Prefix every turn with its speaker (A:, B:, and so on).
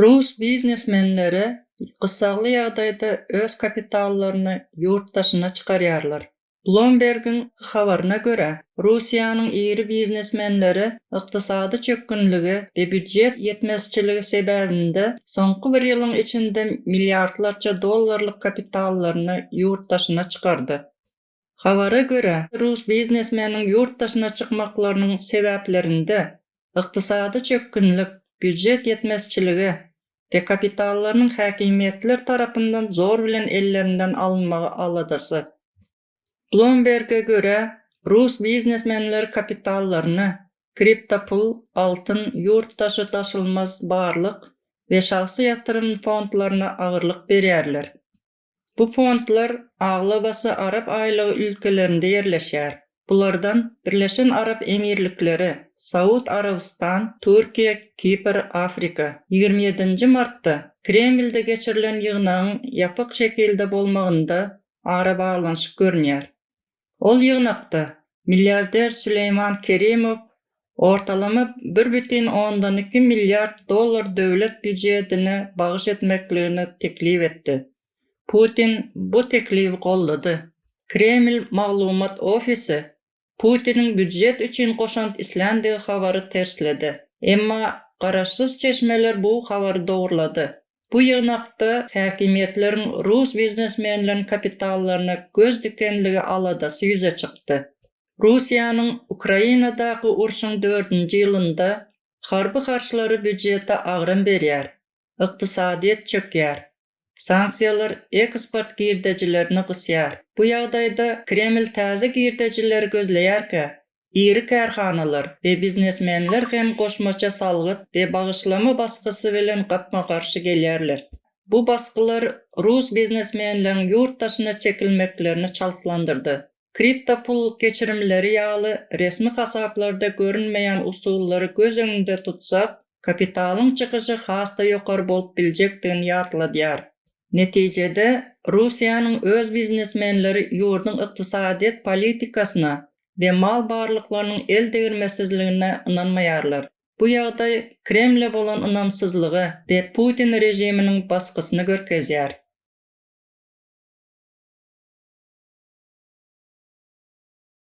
A: Rus biznesmenleri gyssagly ýagdaýda öz kapitallaryny ýurt daşyna çykarýarlar. Bloomberg-iň habaryna görä, Russiýanyň iri biznesmenleri ykdysady çökgünligi we býujet ýetmezçiligi sebäbinde soňky bir ýylyň içinde milliardlarça dollarlyk kapitallaryny ýurt daşyna çykardy. Habara görä, rus biznesmeniň ýurt daşyna çykmaklarynyň sebäplerinde ykdysady çökgünlik, býujet ýetmezçiligi we kapitallarynyň häkimiýetler tarapyndan zor bilen ellerinden alynmagy aladasy. Bloomberge görä, rus biznesmenleri kapitallaryny, kriptopul, altyn, ýurt daşy daşalmaz barlyk we şahsy ýatyrym fondlaryna agyrlyk berýärler. Bu fondlar aglabasy arap aýlagy ülkelerinde ýerleşýär. Bulardan Birleşen Arap Emirlikleri, Saud Arabystan, Türkiýe, Kipr, Afrika. Ýigrimi ýedinji martda Kremlde geçirilen ýygnagyň ýapyk şekilde bolmagynda arabaglanyşyk görünýär. Ol ýygnakda milliarder Süleýman Kerimow ortalama bir bütin ondan iki milliard dollar döwlet býujetine bagyş etmekligini teklip etdi. Putin bu teklibi goldady. Kreml maglumat ofisi Putiniň býujet üçin goşant isländigi habary tersledi. Emma garaşsyz çeşmeler bu habary dogrulady. Bu ýygnakda häkimiýetleriň rus biznesmenleriniň kapitallaryna göz dikenligi aladasy ýüze çykdy. Russiýanyň Ukrainadaky urşuň dördünji ýylynda harby harçlary býudjete agram berýär, ykdysadyýet çökýär, sanksiýalar eksport girdejilerini gysýar. Bu ýagdaýda Kreml täze girdejileri gözleýärkä, iri kärhanalar we biznesmenler hem goşmaça salgyt we bagyşlama basgysy bilen gapma-garşy gelýärler. Bu basgylar rus biznesmenleriň ýurt daşyna çekilmeklerini çaltlandyrdy. Kriptopul geçirimleri ýaly resmi hasaplarda görünmeýän usullary göz öňünde tutsak, kapitalyň çykyşy has-da ýokary bolup biljekdigini ýatladýar. Netijede, Russiýanyň öz biznesmenleri ýurduň ykdysadyýet politikasyna we mal barlyklarynyň el degirmesizligine ynanmaýarlar. Bu ýagdaý Kremle bolan ynamsyzlygy we Putin režiminiň basgysyny görkezýär.